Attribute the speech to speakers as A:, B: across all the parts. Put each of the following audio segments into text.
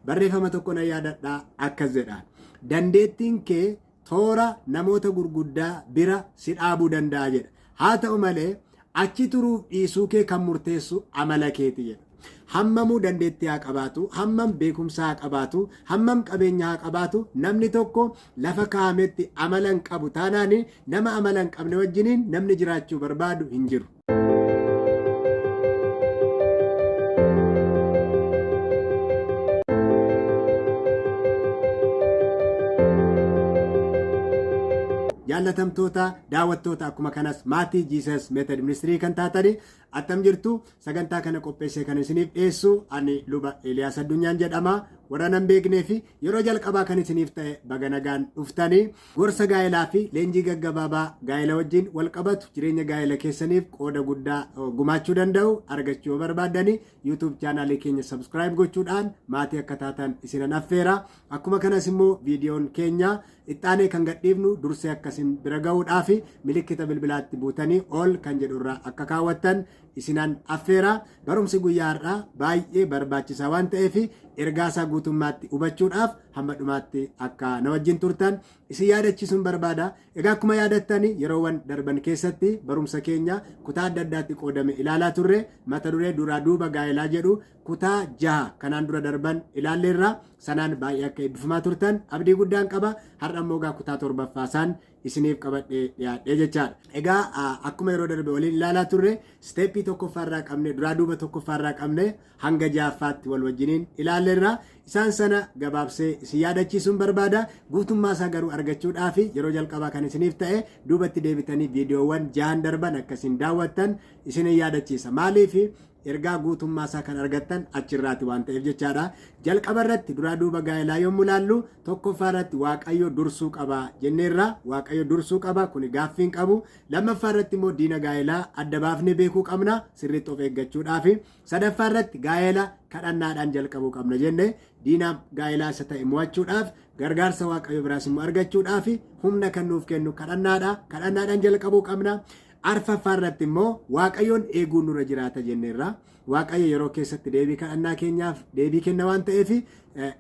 A: Barreeffama tokko nan yaadadha akkas jedha. Dandeettiin kee toora namoota gurguddaa bira si dhaabuu danda'a jedha. Haa ta'u malee achi turuuf dhiisuu kee kan murteessu amala keeti jedha. Hammamuu dandeettii haa qabaatu, hammam beekumsa haa qabaatu, hammam qabeenya haa qabaatu, namni tokko lafa kaa'ametti amala hin qabu taanaan nama amala hin qabne wajjiniin namni jiraachuu barbaadu hin jiru. jaallatamtoota daawwattoota akkuma kanas maatii jiisas meetad ministirii kan taatanii attam jirtu sagantaa kana qopheessee kan isiniif dhiyeessu ani luba Eeliyaas Addunyaan jedhama warra nan beeknee fi yeroo jalqabaa kan isiniif ta'e baga nagaan dhuftanii Gorsa gaa'elaa fi leenjii gaggabaabaa gaa'ela wajjin wal qabatu jireenya gaa'ela keessaniif qooda guddaa gumaachuu danda'u argachuu yoo barbaaddani YouTube chaanaalii keenya subscribe gochuudhaan maatii akka taatan isinan affeera. Akkuma kanas immoo viidiyoon keenya ittaanee kan gadhiifnu dursee akka isin bira ga'uudhaaf milikkita bilbilaatti buutanii ol kan jedhu irra akka kaawwattan isinan affeera. Barumsi guyyaa har'aa baay'ee barbaachisaa waan ta'eef ergaasaa guutummaatti hubachuudhaaf hamma dhumaatti akka na wajjin turtan isin yaadachiisuun barbaada. Egaa akkuma yaadattan yeroowwan darban keessatti barumsa keenya kutaa adda addaatti qoodame ilaalaa turre mata duree duraa duuba gaa'elaa jedhu kutaa jaha kanaan dura darban ilaalleerra sanaan baay'ee akka eebbifamaa turtan abdii guddaan qaba har'a immoo egaa kutaa torbaffaa isaan isiniif qabadhee dhiyaadhee jechaadha. Egaa akkuma yeroo darbe waliin ilaalaa turre steepii tokkoffaarraa qabne duraa duuba tokkoffaarraa qabne hanga ja'affaatti wal wajjiniin ilaalleerra. Isaan sana gabaabsee isin yaadachiisuun barbaada. Guutummaa isaa garuu argachuudhaaf yeroo jalqabaa kan isiniif ta'e duubatti deebitanii viidiyoowwan ja'an darban akkasiin daawwattan isin yaadachiisa. Maaliif Ergaa guutummaa isaa kan argattan achi irraati waan ta'eef jechaadha. Jalqaba irratti duraa duuba gaa'elaa yommuu laallu tokkoffaa irratti Waaqayyo dursuu qaba jenneerra. Waaqayyo dursuu qaba kuni gaaffiin qabu. Lammaffaa irratti immoo diina gaa'elaa adda baafnee beekuu qabna sirriitti of eeggachuudhaafi. Sadaffaa irratti gaa'ela kadhannaadhaan jalqabuu qabna jenne diina gaa'elaa isa ta'e mo'achuudhaaf gargaarsa Waaqayyo biraas immoo argachuudhaafi humna kan nuuf kennu kadhannaadha. Kadhannaadhaan jalqabuu qabna. Arfaffaa irratti immoo Waaqayyoon eeguun nurra jiraata jenneerra. Waaqayyo yeroo keessatti deebii kadhannaa keenyaaf deebii kenna waan ta'eef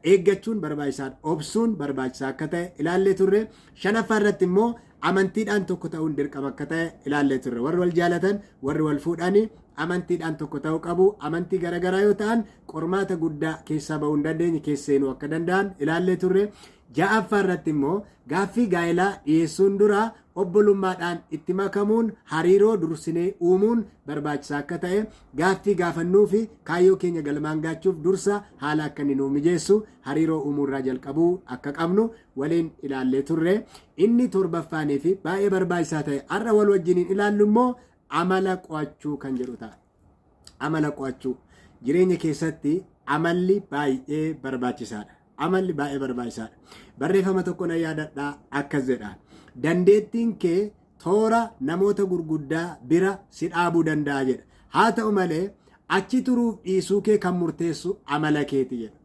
A: eeggachuun barbaachisaadha. Obsuun barbaachisaa akka ta'e ilaallee turre. Shanaffaa irratti immoo amantiidhaan tokko ta'uun dirqama akka ta'e ilaallee turre. Warri wal jaalatan, warri wal fuudhan amantiidhaan tokko ta'uu qabu. Amantii garaagaraa yoo ta'an qormaata guddaa keessaa ba'uu hin dandeenye keessa seenuu akka danda'an ilaallee turre. Ja'affaa irratti immoo gaaffii gaa'elaa dhiyeessuun dura obbolummaadhaan itti makamuun hariiroo dursinee uumuun barbaachisaa akka ta'e, gaaffii gaafannuu fi kaayyoo keenya galmaan gaachuuf dursa haala akka inni nuu mijeessu hariiroo uumuu irraa jalqabuu akka qabnu waliin ilaallee turre. Inni torbaffaanii fi baay'ee barbaachisaa ta'e har'a wal wajjiniin ilaallu immoo amala qo'achuu kan jedhu ta'a. Amala qo'achuu. Jireenya keessatti amalli baay'ee barbaachisaadha. Amalli baay'ee barbaachisaadha. Barreeffama tokko na yaadadhaa akkas jedha. Dandeettiin kee toora namoota gurguddaa bira si dhaabuu danda'a jedha. Haa ta'u malee achi turuuf dhiisuu kee kan murteessu amala keeti jedha.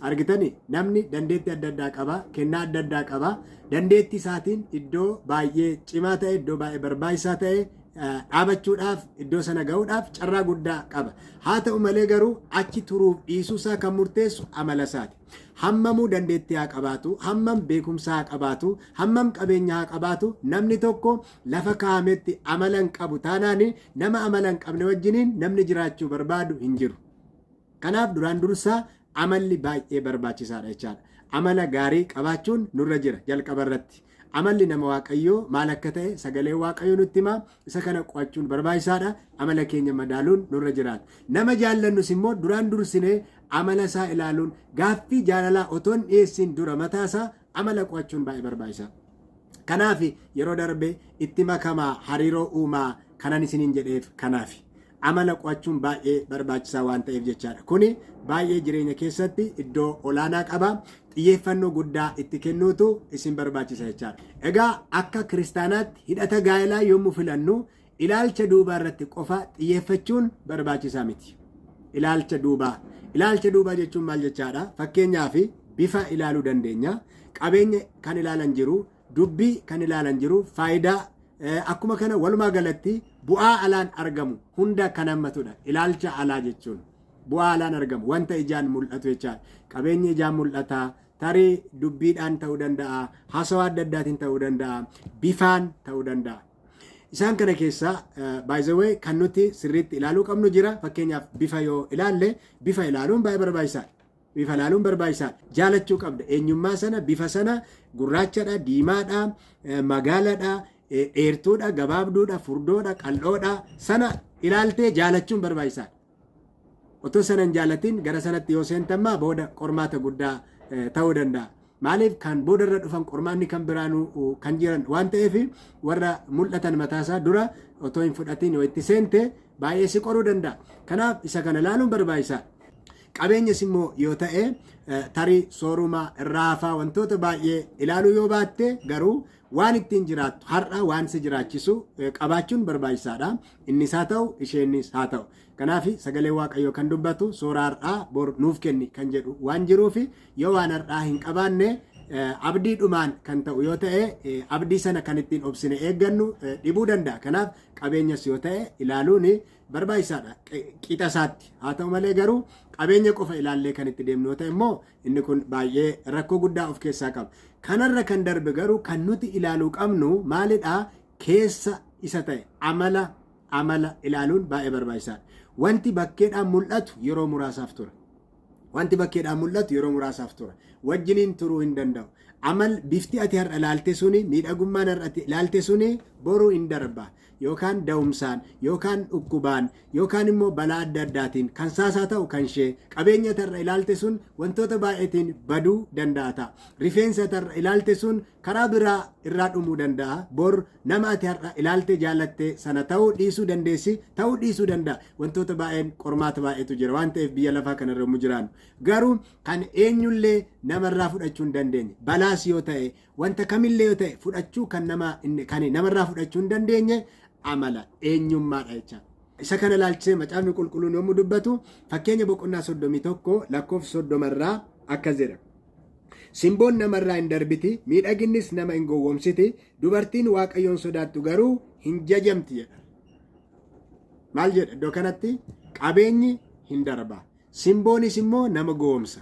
A: Argitani namni dandeetti adda addaa qaba, kennaa adda addaa qaba. Dandeetti isaatiin iddoo baay'ee cimaa ta'e, iddoo baay'ee barbaachisaa ta'e dhaabachuudhaaf iddoo sana ga'uudhaaf carraa guddaa qaba. Haa ta'u malee garuu achi turuuf dhiisuu isaa kan murteessu amala isaati. Hammamuu dandeettii haa qabaatu, hammam beekumsa haa qabaatu, hammam qabeenya haa qabaatu, namni tokko lafa kaa'ametti amala hin qabu taanaan nama amala hin qabne wajjiniin namni jiraachuu barbaadu hin jiru. Kanaaf duraan dursaa amalli baay'ee barbaachisaadha jechaadha. Amala gaarii qabaachuun nurra jira jalqaba irratti. Amalli nama Waaqayyoo maal akka ta'e sagalee Waaqayyoo nutti hima. Isa kana qo'achuun barbaachisaadha. Amala keenya madaaluun nurra jiraata. Nama jaallannus immoo duraan dursinee amala isaa ilaaluun gaaffii jaalalaa otoo hin dhiyeessiin dura mataa isaa Amala qo'achuun baay'ee barbaachisaa. Kanaafi yeroo darbe itti makamaa hariiroo uumaa kanan isiniin jedheef kanaafi. Amala qo'achuun baay'ee barbaachisaa waan ta'eef jechaadha. Kuni baay'ee jireenya keessatti iddoo olaanaa qaba. Xiyyeeffannoo guddaa itti kennuutu isin barbaachisa jechaadha. Egaa akka kiristaanaatti hidhata gaa'elaa yommuu filannu Ilaalcha duubaa irratti qofa xiyyeeffachuun barbaachisaa miti. Ilaalcha duubaa. Ilaalcha duubaa jechuun maal jechaadha? Fakkeenyaaf bifa ilaaluu dandeenya. Qabeenya kan ilaalan jiru, dubbii kan ilaalan jiru, faayidaa eh, akkuma kana walumaa galatti bu'aa alaan argamu hunda kan hammatudha. Ilaalcha alaa jechuun bu'aa alaan argamu wanta ijaan mul'atu jechaadha. Qabeenyi ijaan mul'ata, tarii dubbiidhaan ta'uu danda'a, haasawaa adda addaatiin ta'uu danda'a, bifaan ta'uu danda'a. Isaan kana keessaa by the way kan nuti sirriitti ilaaluu qabnu jira. Fakkeenyaaf bifa yoo ilaalle bifa ilaaluun baay'ee barbaachisaadha. Bifa ilaaluun barbaachisaadha. Jaalachuu qabda. Eenyummaa sana bifa sana gurraachadha, diimaadha, eh, magaaladha, eh, dheertuudha, gabaabduudha, furdoodha, qal'oodha sana ilaaltee jaalachuun barbaachisaadha. Utuu sana hin jaallatin gara sanatti yoo seente ammaa booda qormaata guddaa ta'uu danda'a. Maaliif kan booda irra dhufan qormaanni kan biraanuu kan jiran waan ta'eef warra mul'atan mataasaa dura otoo hin fudhatiin yoo itti seente baay'ee si qoruu danda'a. Kanaaf isa kana ilaaluun barbaachisaadha. Qabeenyas immoo yoo ta'e tarii sooruma irraa hafaa wantoota baay'ee ilaaluu yoo baatte garuu Waan ittiin jiraattu har'a waan si jiraachisu eh, qabaachuun barbaachisaadha. Innis haa ta'u, isheenis haa ta'u. Kanaaf sagalee Waaqayyoo kan dubbatu soora har'aa bor nuuf kenni kan jedhu waan jiruuf yoo waan har'aa hin qabaanne eh, abdii dhumaan kan ta'u yoo ta'e eh, abdii sana kan ittiin obsine eeggannu eh, dhibuu danda'a. Kanaaf qabeenyas yoo ta'e ilaaluun barbaachisaadha qi- qixa isaatti. Haa ta'u malee garuu qabeenya qofa ilaallee kan itti deemnu yoo ta'e immoo Inni kun baay'ee rakkoo guddaa of keessaa qaba. Kanarra kan darbe garuu kan nuti ilaaluu qabnu maalidha? Keessa isa ta'e amala amala ilaaluun baay'ee barbaachisaadha. Wanti bakkeedhaan mul'atu yeroo muraasaaf tura. Wanti bakkeedhaan mul'atu yeroo muraasaaf tura. Wajjiniin turuu hin danda'u. Amal bifti ati har'a ilaalte suni miidhagummaan har'a ati ilaalte suni boruu hin darba. yookaan da'umsaan yookaan dhukkubaan yookaan immoo balaa adda addaatiin kan saas haa ta'u kan ishee qabeenya tarra ilaalte sun wantoota baay'eetiin baduu danda'a ta'a. Rifeensa tarra ilaalte sun karaa biraa irraa dhumuu danda'a. Bor nama ati har'a ilaalte jaalatte sana ta'uu dhiisuu dandeessi ta'uu dhiisuu danda'a. Wantoota baay'een qormaata baay'eetu jira waan ta'eef biyya lafaa kana irra yommuu jiraannu. Garuu kan eenyullee namarraa fudhachuu hin dandeenye. Balaas yoo ta'e Wanta kamillee yoo ta'e fudhachuu kan nama inni kan namarraa fudhachuu hin dandeenye amala eenyummaadha jecha. Isa kana ilaalchisee macaafni qulqulluun yommuu dubbatu fakkeenya boqonnaa soddomii tokko lakkoofsa soddoma irraa akkas jedha. Simboon namarraa hin darbiti, miidhaginnis nama hin gowwomsiti, dubartiin waaqayyoon sodaattu garuu hin jajamti jedha. Maal jedha iddoo kanatti qabeenyi hin darba. Simboonis immoo nama gowomsa.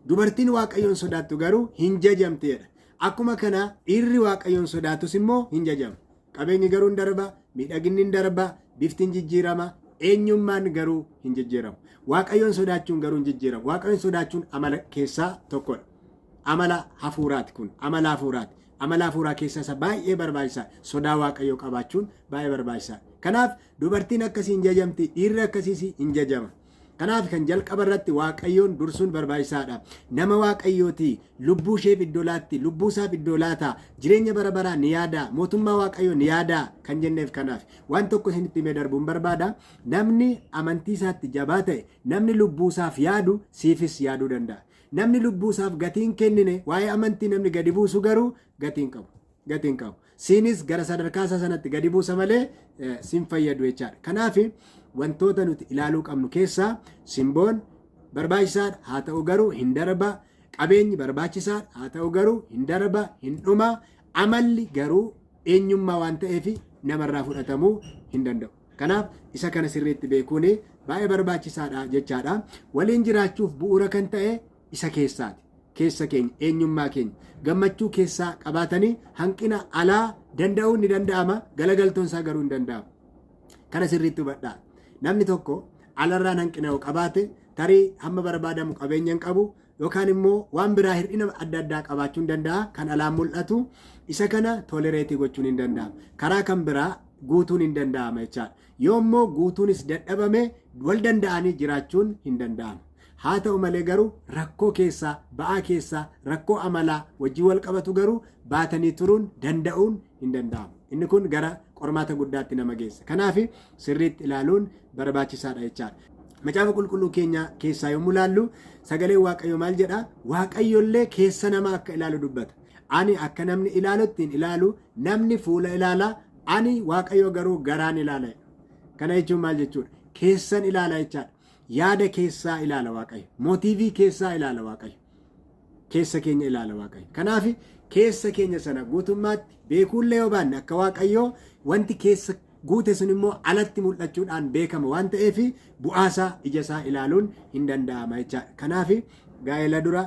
A: Dubartiin Waaqayyoon sodaattu garuu hin jajamteedha. Akkuma kana dhiirri Waaqayyoon sodaatus immoo hin jajama. Qabeenyi garuu hin darba, miidhaginni hin darba, bifti hin jijjiirama, eenyummaan garuu hin jijjiiramu. Waaqayyoon sodaachuun garuu hin jijjiiramu. Waaqayyoon sodaachuun amala keessaa tokkodha. Amala hafuuraati kun, amala hafuuraati. Amala hafuuraa keessa isa baay'ee barbaachisaa sodaa Waaqayyoo qabaachuun baay'ee barbaachisaa. Kanaaf Dubartiin akkasii hin jajamti, dhiirri akkasiis hin jajama. Kanaaf kan jalqaba irratti Waaqayyoon dursuun barbaachisaadha. Nama Waaqayyooti, lubbuu isheef iddoo laatti, lubbuu isaaf iddoo laata, jireenya bara baraa ni yaada, mootummaa Waaqayyoo ni yaada kan jenneef kanaaf. Waan tokko isinitti himee darbuun barbaada. Namni amantii isaatti jabaa ta'e, namni lubbuu isaaf yaadu siifis yaaduu danda'a. Namni lubbuu isaaf gatii hin kennine, waa'ee amantii namni gadi buusu garuu gatii hin qabu. gati hin qabu. Siinis gara sadarkaa isaa sanatti gadi buusa malee eh, sin fayyadu jechaadha. Kanaaf wantoota nuti ilaaluu qabnu keessaa simboon barbaachisaadha haa ta'u garuu hin darba. Qabeenyi barbaachisaadha haa ta'u garuu hin darba hin dhuma. Amalli garuu eenyummaa waan ta'eef namarraa fudhatamuu hin danda'u. Kanaaf isa kana sirriitti beekuun baay'ee barbaachisaadha jechaadha. Waliin jiraachuuf bu'uura kan ta'e isa keessaati. Keessa keenya, eenyummaa keenya. Gammachuu keessaa qabaatanii hanqina alaa danda'uun ni danda'ama, galagaltoon isaa garuu hin danda'amu. Kana sirriitti hubadhaa. Namni tokko alarraan hanqina yoo qabaate tarii hamma barbaadamu qabeenya hin qabu yookaan immoo waan biraa hir'ina adda addaa qabaachuu hin danda'a kan alaan mul'atu isa kana tolereetii gochuun hin danda'amu. Karaa kan biraa guutuun hin danda'ama jechaadha. Yoo immoo guutuunis dadhabame wal danda'anii jiraachuun hin danda'amu. Haa ta'u malee garuu rakkoo keessaa, ba'aa keessaa, rakkoo amalaa wajjin wal qabatu garuu baatanii turuun, danda'uun hin danda'amu. Inni kun gara qormaata guddaatti nama geessa. Kanaaf sirriitti ilaaluun barbaachisaadha jechaadha. Macaafa qulqulluu keenya keessaa yommuu ilaallu sagaleen Waaqayyoo maal jedha? Waaqayyollee keessa namaa akka ilaalu dubbata. Ani akka namni ilaalutti hin ilaalu, namni fuula ilaala, ani Waaqayyo garuu garaan ilaala. Kana jechuun maal jechuudha? Keessan ilaala jechaadha. Yaada keessaa ilaala Waaqayyo. Mootiivii keessaa ilaala Waaqayyo. Keessa keenya ilaala Waaqayyo. Kanaaf keessa keenya sana guutummaatti beekuullee yoo baanne akka Waaqayyoo wanti keessa guute sun immoo alatti mul'achuudhaan beekama waan ta'eef bu'aasaa ijasaa ilaaluun hin danda'ama jechaadha. Kanaaf gaa'ela dura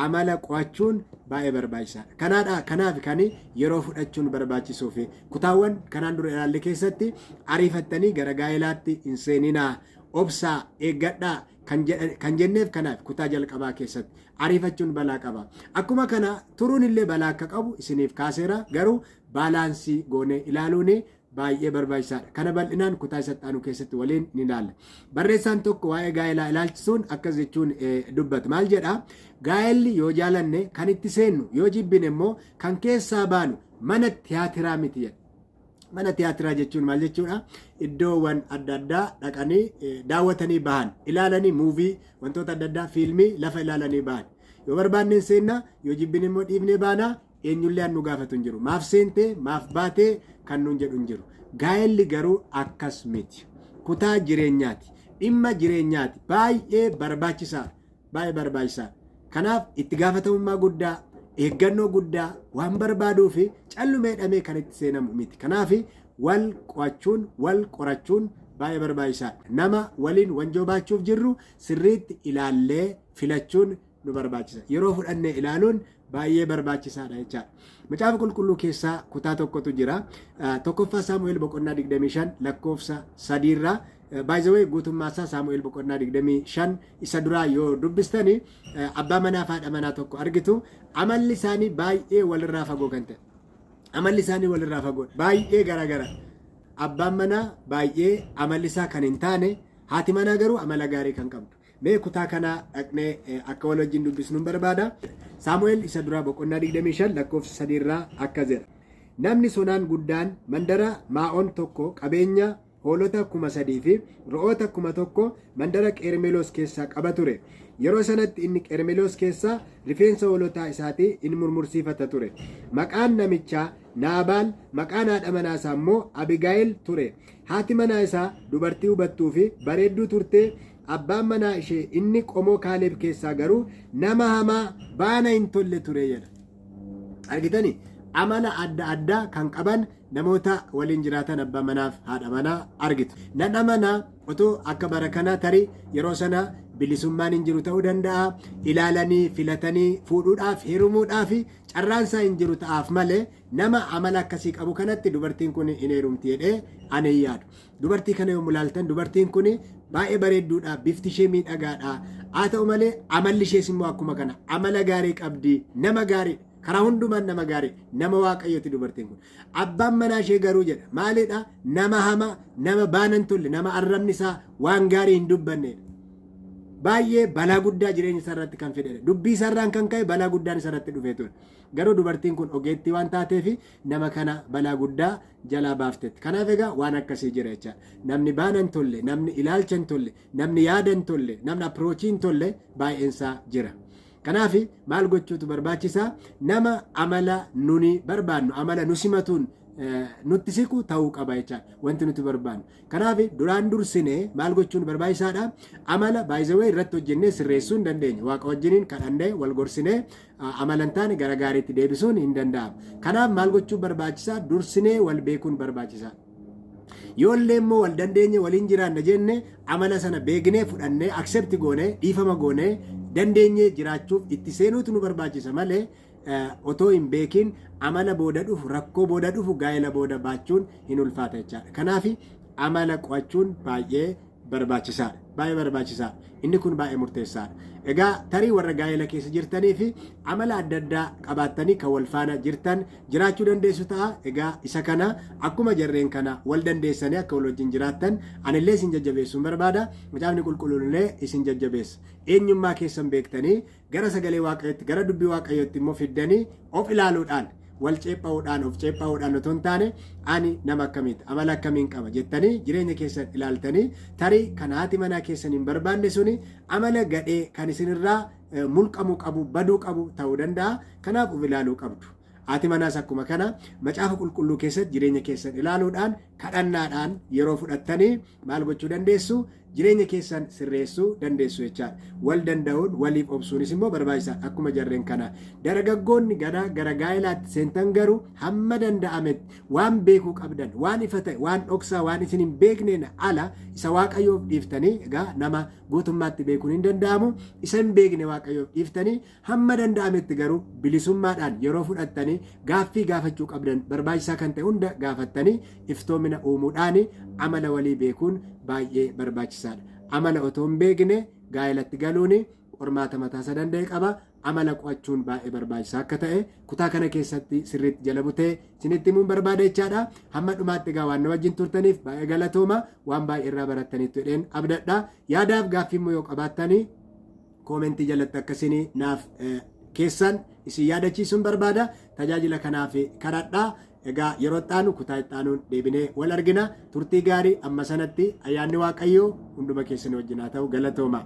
A: amala qo'achuun baay'ee barbaachisaadha. Kanaadha kanaaf kan yeroo fudhachuun barbaachisuu fi kutaawwan kanaan dura ilaalle keessatti ariifattanii gara gaa'elaatti hin seeninaa Obsaa, eeggadhaa kan, jedha, kan jenneef kanaaf kutaa jalqabaa keessatti ariifachuun balaa qaba. Akkuma kana turuun illee balaa akka qabu isiniif kaaseera garuu baalaansii goonee ilaaluun baay'ee barbaachisaadha. Kana bal'inaan kutaa isatti aanu keessatti waliin ni ilaalla. Barreessaan tokko waa'ee gaa'elaa ilaalchisuun akkas jechuun dubbata. Maal jedha? Gaa'elli yoo jaalanne kan itti seennu yoo jibbine immoo kan keessaa baanu mana tiyaatiraa miti jedha. Mana tiyaatiraa jechuun maal jechuudha? Iddoowwan adda addaa dhaqanii eh, daawwatanii bahan, ilaalanii muuvii, wantoota adda addaa fiilmii lafa ilaalanii bahan. Yoo barbaanneen seenna, yoo jibbine immoo dhiifnee baana, eenyullee an nu gaafatu hin jiru. Maaf seentee, maaf baatee kan nuun jedhu hin jiru. Gaa'elli garuu akkas miti. Kutaa jireenyaati. Dhimma jireenyaati. Baay'ee barbaachisaadha. baay'ee barbaachisaa. Kanaaf itti gaafatamummaa guddaa, eeggannoo guddaa waan barbaaduu fi callumeedhamee kan itti seenamu miti. Kanaaf wal qo'achuun, wal qorachuun baay'ee barbaachisaa. Nama waliin wanjoo baachuuf jirru sirriitti ilaallee filachuun nu barbaachisa. Yeroo fudhannee ilaaluun baay'ee barbaachisaadha jechaadha. Macaafa qulqulluu keessaa kutaa tokkotu jira. Tokkoffaa Saamu'eel boqonnaa 25 lakkoofsa 3 irraa baay'ee guutummaa isaa Saamu'eel boqonnaa 25 isa duraa yoo dubbistani abbaa manaa fi haadha manaa tokko argitu amalli isaanii baay'ee walirraa fagoo kan ta'e. Amalli isaanii walirraa fagoo baay'ee garaagara. Abbaan manaa baay'ee amalli isaa kan hin taane haati manaa garuu amala gaarii kan qabdu. Mee kutaa kana dhaqnee akka wal wajjin dubbisnun barbaada. Saamu'el isa duraa boqonnaa 25 lakkoofsa 3 irraa akkas jedha. Namni sonaan guddaan mandara Maa'on tokko qabeenya hoolota kuma sadii fi ro'oota kuma tokko mandara Qeermeloos keessaa qaba ture. Yeroo sanatti inni Qeermeloos keessaa rifeensa hoolotaa isaatii in murmursiifata ture. Maqaan namichaa Naabaal, maqaan haadha manaa isaa immoo Abigaayil ture. Haati manaa isaa dubartii hubattuu fi bareedduu turtee Abbaan manaa ishee inni qomoo Kaaleeb keessaa garuu nama hamaa baana hin tolle ture jedha. Argitani amala adda addaa kan qaban namoota waliin jiraatan abbaa manaaf haadha manaa argitu. Nan amana otoo akka bara kanaa tarii yeroo sana bilisummaan hin jiru ta'uu danda'a. Ilaalanii filatanii fuudhuudhaaf heerumuudhaaf carraan isaa hin jiru ta'aaf malee nama amala akkasii qabu kanatti dubartiin kun hin heerumti jedhee ani hin yaadu. Dubartii kana yommuu ilaaltan dubartiin kun baay'ee bareedduudha, bifti ishee miidhagaadha. Haa ta'u malee amalli ishees immoo akkuma kana amala gaarii qabdi, nama gaarii karaa hundumaan nama gaarii nama waaqayyooti dubartiin kun. Abbaan manaa ishee garuu jedha maalidha nama hamaa nama baanan tolle nama arrabni isaa waan gaarii hin dubbanneedha. Baay'ee balaa guddaa jireenya isaa irratti kan fidedha. Dubbii isaa irraan kan ka'e balaa guddaan isa irratti dhufee ture. Garuu dubartiin kun ogeettii waan taateef nama kana balaa guddaa jalaa baaftetti. Kanaaf egaa waan akkasii jira jecha. Namni baana hin tolle, namni ilaalcha hin tolle, namni yaada hin tolle, namni apiroochii hin tolle baay'een isaa jira. Kanaaf maal gochuutu barbaachisaa? Nama amala nuni barbaannu, amala nu simatuun eh, nutti siqu ta'uu qaba jecha wanti nuti barbaannu. Kanaaf duraan dursinee maal gochuun barbaachisaadha? Amala baay'isawee irratti hojjennee sirreessuu hin dandeenye. Waaqa wajjiniin kadhannee wal gorsinee amala hin taane gara gaariitti deebisuun hin danda'amu. Kanaaf maal gochuun barbaachisaa? Dursinee wal beekuun barbaachisaa. Yoo illee immoo wal dandeenye waliin jiraanna jenne amala sana beeknee fudhannee accept goone dhiifama goone dandeenye jiraachuuf itti seenuutu nu barbaachisa malee otoo hin beekiin amala booda dhufu rakkoo booda dhufu gaa'ela booda baachuun hin ulfaata jechaadha. Kanaaf amala qo'achuun baay'ee barbaachisaadha. Baay'ee barbaachisaadha. Inni kun baay'ee murteessaadha. Egaa tarii warra gaa'ela keessa jirtanii fi amala adda addaa qabaattanii kan wal faana jirtan jiraachuu dandeessu ta'a. Egaa isa kana akkuma jarreen kana wal dandeessanii akka wal wajjin jiraattan anillee isin jajjabeessuun barbaada. Macaafni qulqulluun illee isin jajjabeessa. Eenyummaa keessan beektanii gara sagalee waaqayyootti gara dubbii waaqayyootti immoo fiddanii of ilaaluudhaan wal ceepha'uudhaan of ceepha'uudhaan otoo hin taane ani nama akkamiiti amala akkamiin qaba jettanii jireenya keessan ilaaltanii tarii kan haati manaa keessan hin barbaanne suni amala gadhee kan isinirraa eh, mulqamuu qabu baduu qabu ta'uu danda'a kanaaf of ilaaluu qabdu. Haati manaas akkuma kana macaafa qulqulluu keessatti jireenya keessan ilaaluudhaan kadhannaadhaan yeroo fudhattanii maal gochuu dandeessu? Jireenya keessan sirreessuu dandeessu jechaadha. Wal danda'uun waliif obsuunis immoo barbaachisaadha akkuma jarreen kana. Dargaggoonni ganaa gara gaa'elaatti seentan garuu hamma danda'ametti waan beekuu qabdan waan ifa ta'e waan dhoksaa waan isin hin beekneen ala isa waaqayyoof dhiiftanii egaa nama guutummaatti beekuun hin danda'amu isa hin beekne waaqayyoof dhiiftanii Hamma danda'ametti garuu bilisummaadhaan yeroo fudhattanii gaaffii gaafachuu qabdan barbaachisaa kan ta'e hunda gaafattanii iftoomina uumuudhaan amala walii beekuun baay'ee barbaachisaadha. Amala otoo hin beekne gaa'elatti galuun qormaata mataasaa danda'e qaba. Amala qo'achuun baay'ee barbaachisaa akka ta'e kutaa kana keessatti sirriitti jala butee isinitti himuun barbaada jechaadha. Hamma dhumaatti egaa waan na wajjin turtaniif baay'ee galatooma waan baay'ee irraa barattaniittu jedheen abdadha. Yaadaaf gaaffiimmoo yoo qabaattanii Koomentii jalatti akka isin naaf keessan isin yaadachiisuun barbaada. Tajaajila kanaaf kadhadhaa. Egaa yeroo itti aanu kutaa itti aanuun deebinee wal argina. Turtii gaarii amma sanatti ayyaanni Waaqayyoo hunduma keessan wajjin haa ta'u galatoomaa.